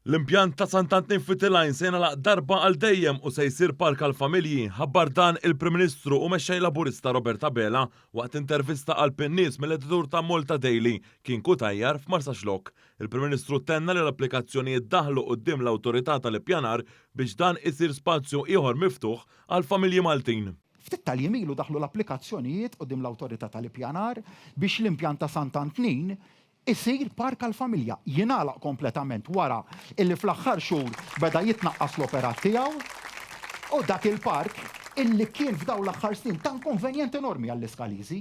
L-impjant ta' Sant'Antnin Fitilajn se jingħalaq darba għal dejjem u se jsir park għall-familji, ħabbar dan il-Prim Ministru u Mexxej Laburista Robert Abela waqt intervista għal PNies mill-editur ta' Malta Daily, Kien Cutajar, f'Marsaxlokk. Il-Prim Ministru tenna li l-applikazzjonijiet daħlu quddiem l-Awtorità tal-Ippjanar biex dan isir spazju ieħor miftuħ għall-familji Maltin. Ftit tal-jiem ilu daħlu l-applikazzjonijiet quddiem l-Awtorità tal-Ippjanar biex l-impjant ta' Sant' Antnin isir park għall-familja. Jingħalaq kompletament wara illi fl-aħħar xhur beda jitnaqqas l-operat tiegħu u dak il-park illi kien f'dawn l-aħħar snin ta' inkonvenjent enormi għall-Iskaliżi,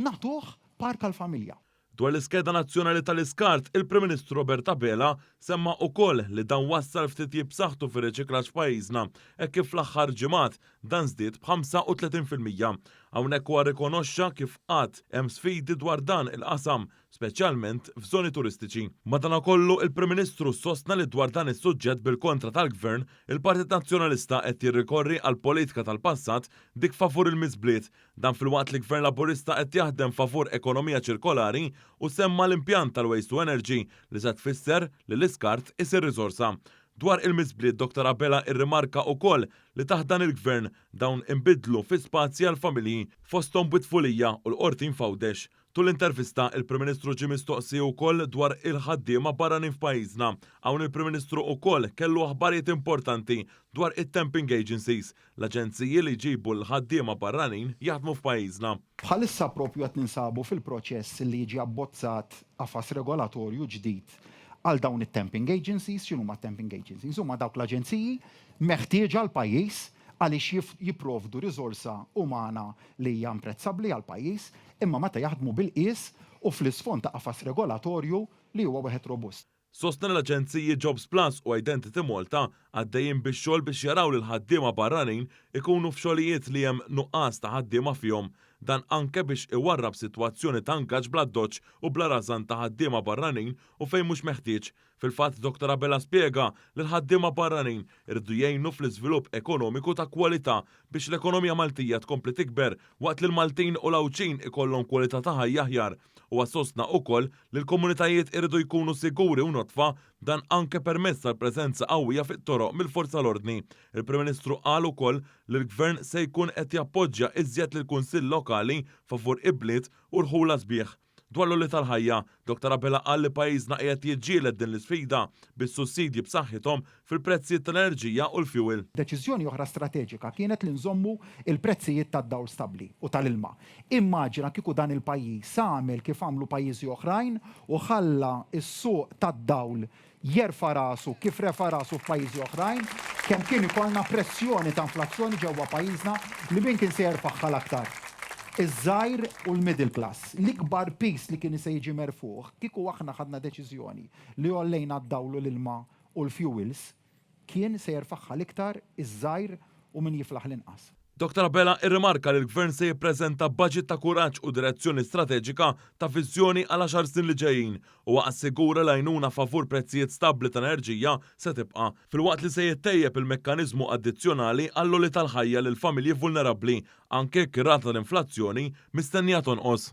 nagħtuh park għall-familja. Dwar l-iskeda nazzjonali tal-iskart, il-Prim Ministru Robert Abela semma ukoll li dan wassal f'titjib b'saħħtu fir-riċiklaġġ f'pajjiżna hekk kif fl-aħħar ġimgħat dan żdied b'35 fil-mija. Hawnhekk huwa rrikonoxxa kif għad hemm sfidi dwar dan il-qasam, speċjalment f'żoni turistiċi. Madanakollu, il-Prim Ministru sostna li dwar dan is-suġġett bil-kontra tal-Gvern, il-Partit Nazzjonalista qed jirrikorri għall-politika tal-passat, dik favur il-miżbliet, Dan filwaqt li Gvern Laburista qed jaħdem favur ekonomija ċirkolari u semma l-impjant tal-Waste to Energy li se tfisser li l-iskart isir riżorsa. Dwar il-miżbliet Dottor Abela irrimarka ukoll li taħt dan il-Gvern dawn inbidlu fi spazji għall-familji fosthom Bwitfulija u l-Qortin f'Għawdex. Tul intervista, il-Prim Ministru ġie mistoqsi wkoll dwar il-ħaddiema barranin f'pajjiżna. Hawn il-Prim Ministru wkoll kellu aħbarijiet importanti dwar it-temping agencies, l-aġenziji li jġibu l-ħaddiema barranin jaħdmu f'pajjiżna. Bħalissa proprju qed ninsabu fil-proċess li jiġi abbozzat qafas regolatorju ġdid għal dawn it-temping agencies. X'inhuma t-temping agencies? Huma dawk l-aġenziji meħtieġa għall-pajjiż għaliex jipprovdu riżorsa umana li hija imprezzabbli għall-pajjiż, imma meta jaħdmu bil-qies u fl-isfond ta' qafas regolatorju li huwa wieħed robust. Sostna li l-aġenziji Jobsplus u Identity Malta għaddejjin bix-xogħol biex jaraw li l-ħaddiema barranin ikunu f'xogħlijiet li hemm nuqqas ta' ħaddiema fihom, dan anke biex iwarrab sitwazzjoni ta' ngaġġ bl-addoċċ u bla rażan ta' ħaddiema barranin u fejn mhux meħtieġ, Fil-fatt Dottor Abela spjega li l-ħaddiema barranin iridu jgħinu fl-iżvilupp ekonomiku ta' kwalità biex l-ekonomija Maltija tkompli tikber waqt li l-Maltin u l-Għawdxin ikollhom kwalità ta' ħajja aħjar. Huwa sostna ukoll li l-komunitajiet iridu jkunu siguri u nodfa, dan anke permezz tal-preżenza qawwija fit-toroq mill-Forza l-Ordni. Il-Prim Ministru qal ukoll li l-Gvern se jkun qed jappoġġja iżjed lill-Kunsill Lokali favur ibliet u rħula sbieħ. Dwar l-għoli tal-ħajja, Doctor Abela qal li pajjiżna qiegħed jiġġieled din l-isfida bis-sussidji b'saħħithom fil-prezzijiet tal-enerġija u l-fjuwil. Deċiżjoni oħra strateġika kienet li nżommu l-prezzijiet tad-dawl stabbli u tal-ilma. Immaġina kieku dan il-pajjiż għamel kif għamlu pajjiżi oħrajn u ħalla s-suq tad-dawl jerfa' rasu kif refa' rasu f'pajjiżi oħrajn, kemm kien ikollna pressjoni ta' inflazzjoni ġewwa pajjiżna li min kien se jerfagħha l-aktar? Iż-żgħir u l-middle class. L-ikbar piż li kien se jiġi merfugħ kieku aħna ħadna deċiżjoni li għollejna d-dawl u l-ilma u l-fuels, Kien se jerfagħha l-iktar iż-żgħir u min jiflaħ l-inqas. Doctor Abela irrimarka li l-Gvern se jippreżenta baġit ta' kuraġġ u direzzjoni strateġika ta' viżjoni għal għaxar snin li ġejjin. Huwa assigura li għajnuna favur prezzijiet stabbli ta' enerġija se tibqa', filwaqt li se jittejjeb il-mekkaniżmu addizzjonali għall-għoli tal-ħajja lil familji vulnerabbli, anke jekk ir-rata tal-inflazzjoni mistennija tonqos.